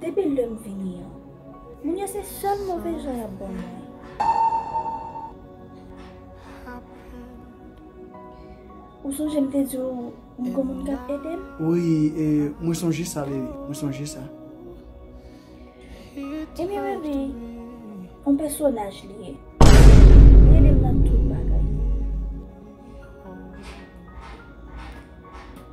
Depi lèm vini an. Moun yo se sèl move jan yap ban mwen. Ou sonje m te di w m gon moun kap ede m? Wi e mwen sonje sa bebe, mwen sonje sa. Ebyen bebe, on pèsonaj li ye. Li ede m nan tout bagay.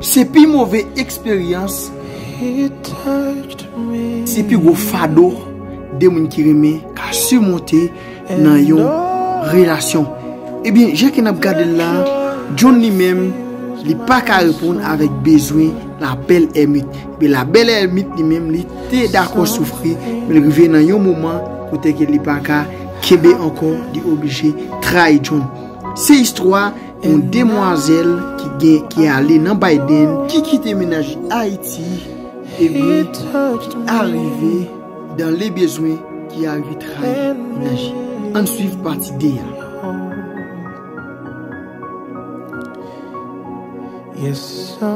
Se pi move eksperyans, se pi gwo fado 2 moun ki renmen ka simonte nan yon relasyon. Ebyen, jan ke n ap gade l la, John li menm, li pa ka reponn avèk bezwen la bèl èmit. Ebyen, la bèl èmit li menm li te dakò soufri, men rive nan yon moman kote ke li pa ka. Kenbe ankò li oblije trayi John. Se istwa yon demwazèl ki gen ki ale nan Biden, ki kite menaj li Ayiti epi ki arive dan le bezwen ki arive trayi menaj li. Ann swiv pati 2 a. Yes sir.